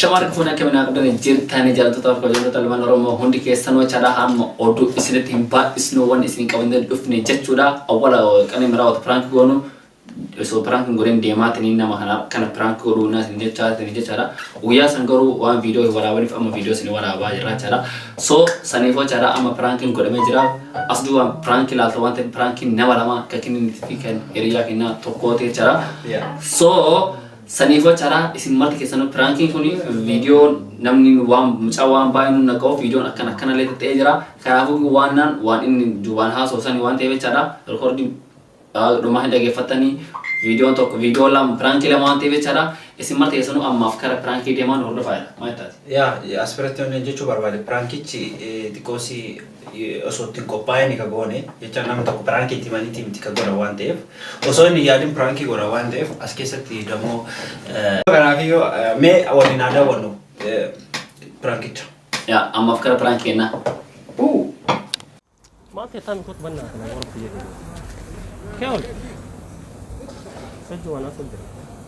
Shamarri fuun akka minaa qabdan jirtani jaallattoota fi kabajamtoota ilmaan Oromoo hundi keessanoo chaadhaa hamma oduu isinitti hin baay'isnu wanni isin qabannee dhufne jechuudha. Awwala qanii miraa wata piraank goonu osoo piraank hin godhin deemaatanii nama kana kana piraank godhuu naa isin jechaa isin jechaadha. Guyyaa san garuu waan viidiyoo hin waraabaniif amma viidiyoo isin waraabaa jirra jechaadha. So saniifoo chaadhaa amma piraankiin godhamee jira. As duwwaan piraank ilaalta waan ta'eef piraankiin nama lama kan kenniniti fi kan hiriyaa kennaa tokkooti jechaadha. So Saniifoo caraa isin marti keessanuu piraankiin kun viidiyoon namni waan mucaa waan baay'ee nu naqa'uuf viidiyoon akkan akkanallee ta'ee jira. Kanaafuu waan naan waan inni duubaan haasoo sani waan ta'eef jechaadha. Rikoordii dhumaa hin dhageeffattanii viidiyoon tokko viidiyoo lama piraankii lama waan ta'eef jechaadha. Isin marti keessanuu ammaaf kara piraankii deemaan hordofaa jedha. Maal taati? Yaa asirratti waan jechuu barbaade piraankichi xiqqoosii osoo itti hin qophaa'ini ka goone jecha nama tokko piraanki itti himaniiti miti ka godhan waan ta'eef osoo inni yaadin piraankii godhan waan ta'eef as keessatti dammoo kanaaf yoo mee waliin haa daawwannu piraankicha. Yaa ammaaf gara piraanki kennaa. Uu! Maaf jettaa miti kootu bannaa kana warra biyya keenya. Keewwan. Hojii waan haasofne.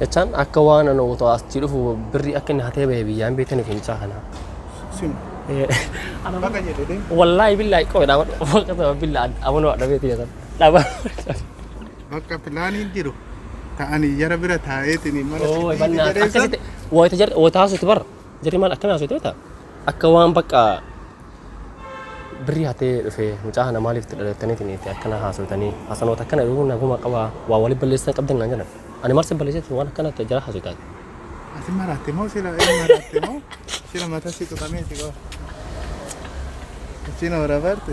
Jechaan akka waan ani otoo asii dhufu birrii akka inni hatee bahee biyyaa hin beekaniif mucaa kana. Sin. Baga jedhe deem. Wallaahi billaahi qofa dhaaba bakka sana billaa amanoo dhabee ta'e sana dhaaba. Bakka pilaaniin jiru ta'anii jara bira taa'eetiin mana Oo sirbii bannaa jedhee san. akkasitti wayita jarri wayita haasoftu bara jarri maal akkana haasoftu beektaa akka waan bakka Birrii hatee dhufee mucaa kana maaliif itti dhadattaniitiin itti akkana haasoytanii hasanoota akkana dhuguu naguma qabaa waa wali balleessitan qabdan naan jedhan ani maal sin balleesseetiin waan akkana itti jara haasoytaan Ati maraatte moo sila ee maraatte moo sila mata si tuqameeti qaba. Achiin hoora barte.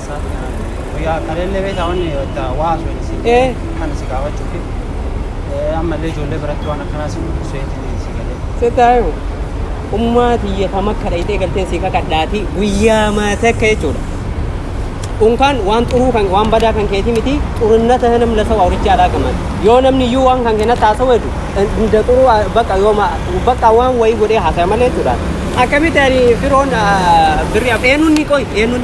Guyyaa kaleellee beektaa wanni itti waa haasofne si Ee. kan si gaafachuufi Eh, ammallee ijoollee biratti waan akkanaa si mul'isu eetiin si galee. Sitaayu ummaa tiyya kam akka dhayxee galteen si kakadhaati guyyaa maata akka jechuudha. Unkaan waan xuruu kan waan badaa kan keetii miti xurinna ta'e nam lasa waa horicha alaa qaban. Yoo namni iyyuu waan kan kenna taasoo weedu hunda xuruu ah, bakka yoo ma bakka waan wayii godhee haasaya malee jechuudha. Akkamitti ani firoon ah, birri af eenyuun ni qoy eenyuun.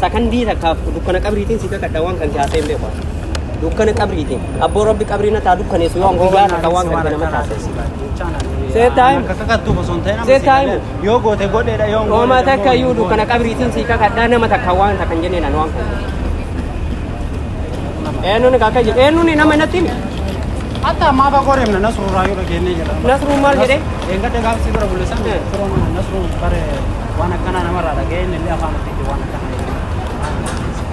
sakandii takkaaf dukkana qabriitiin si kakadha waan kan kaasee hin beeku. Dukkana qabriitiin abboo rabbi qabrii na taa dukkaneessu yoo guyyaa takka waan kan nama taasise. Seet taa'im. Akka kakattuu osoo hin ta'in Seet taa'im. yoo goote godheedha yoo hin Ooma goote takka immoo iyyuu hin dukkana goone. qabriitiin si kakadha nama takka waan takka hin jenneen ani waan kan. Eenyuun kakka jedhe eenyuun nama natti himi. Hatta ammaa fagoo deemna nasruu raayuu dhageenyee jira. Nasruun maal jedhee? Eeggadde gaafsii bira bulleessan Eh. firoon nasruu bare Waan akkanaa namarraa dhaga'ee inni illee afaan ofiitti waan akkanaa jedhu maal na dandeessa?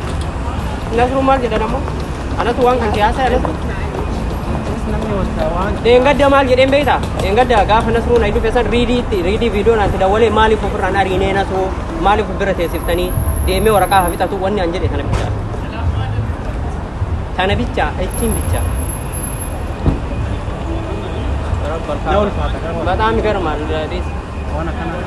Nasru maal jedha namoo? Anatu waan kan kee haasa'e anatu. Innis namni wanta waan Dheengadda maal jedheen beektaa? Dheengadda gaafa Nasruu na dhufe san riidiitti riidii viidiyoo naatti dawwalee maaliif ofirraan ariinee Nasruu maaliif of bira teessiftanii deemee waraqaa haa fixatu wanni an jedhe tana bichaa. Tana bichaa ittiin bichaa. na ulfaata garuu Bataam garmaal dees. waan akkanaa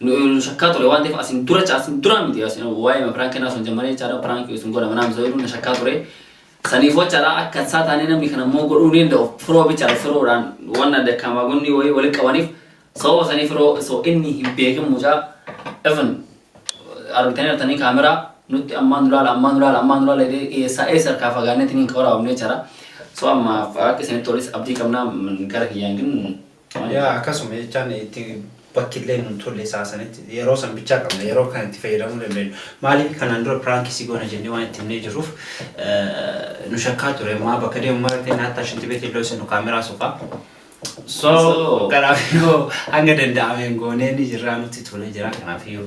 nu shakkaa ture waan ta'eef asin dura asin dura miti asin waa'ee prank kennaa sun jammaree jechaadha prank sun godha manaa misa jedhu na shakkaa ture saniif jechaadha akka isaa taanee namni kana immoo godhuu ni danda'u firoo bichaadha firoodhaan waan adda kaamaagonni wayii walitti qabaniif sababa sanii firoo osoo inni hin beekin mucaa even argitanii artanii kaameraa nutti ammaan duraala ammaan duraala ammaan duraala jedhee eessaa eessa harkaa fagaanneetiin hin waraabamne jechaadha so amma akka isinitti tolis abdii qabnaa gara kiyyaan Yaa akkasuma jechaan itti bakki illee nun tolle isaa sanitti yeroo san bichaa qabna yeroo kan itti fayyadamuu dandeenyu maaliif kanaan dura piraankii si goona jennee waan itti himnee jirruuf nu shakkaa ture ammaa bakka deemu mara ta'e naattaa shinti beetii illee senu kaameraa sofaa so kanaaf yoo hanga danda'ameen goonee ni jirraa nutti tolee jira kanaaf yoo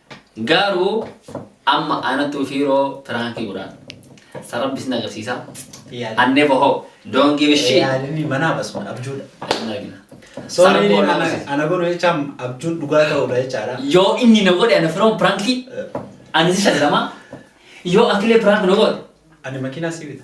Garuu amma anatu ufiiroo piraankii godhaan sa rabbi isin agarsiisa an never hope don't give a shit Yaalinni manaa basuma abjuudha. Hin argina. Sa Soorii rabbi wal ana agarsiisa. ana godhu jechaan abjuun dhugaa ta'uudha jechaadha. yoo inni na godhe ana firoon piraankii ani si shallama yoo atilee piraank na godhe Ani makiinaa si bita.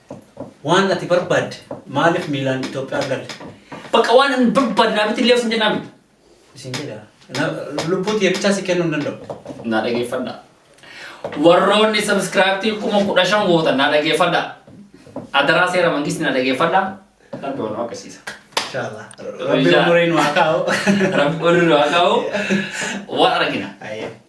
Waan ati barbaadde maaliif miilaan Itoophiyaa galte? Bakka waan hin barbaadne naa bitillee osin jennaa miti. Isin jedha. Na- Lubbuu tiyya bichaa si kennuu hin danda'u. Naa dhageeffadha. Warroonni sabiskiraayibtii kuma kudha shan gootan naa dhageeffadha. Adaraa seera mangisti naa dhageeffadha. Rabbi waan waaqessiisa. Inshallah. Rabbi Inshallah. umuriin waa kaa'u. Rabbi olirra haa kaa'u. Waan argina. Ayyee.